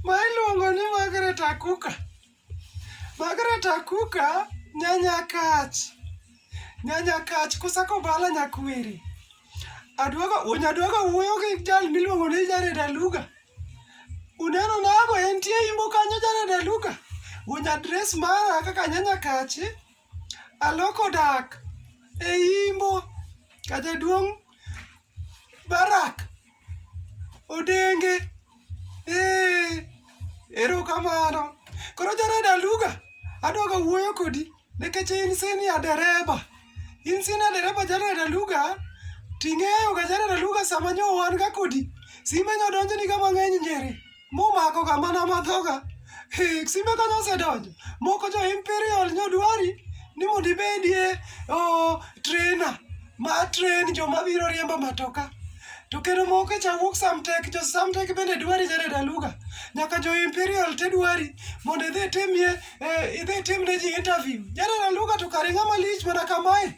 Ma iluongo ni Margaret Akuka. Margaret Akuka nyanya kach. Nyanya kach kusako bala nyakwiri. Aduogo unyaduogo wuoyo gi jal miluongo ni Jared Aluga. Uneno nago entie imbo kanyo Jared Aluga. Unya dress mara kaka nyanya kachi. Aloko dak e Imbo ka jaduong' Barak Odenge. Ee, erokamano. Koro Jared Aluga, adwaga wuoyo kodi nikech in senior dereba. In senior dereba Jared Aluga, ting'eyoga Jared Aluga sama nyo wan ga kodi, simbe nyo donjoniga mang'eny nyeri. Mumakoga mana madhoga. Hik, simbe kanyo osedonjo. Moko jo Imperial nyodwari ni mondo ibedie oh, trainer ma train joma biro riembo matoka. To kendo moko cha wuok Samtek, jo Samtek bende dwari nyare daluga. Nyaka jo Imperial te dwari mondo idhi timie, eh, idhi timne ji interview. Nyare daluga to kare ng'ama lich mana kamae.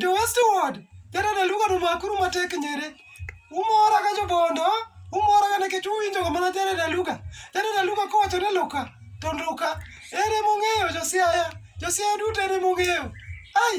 jo westward kata daluga to makuru matek nyere umora ka jobondo umora ka nikech uwinjo ga mana jare daluga jare daluga kowacho ni luka to luka ere mong'eyo josiaya josiaya duto ere mong'eyo ai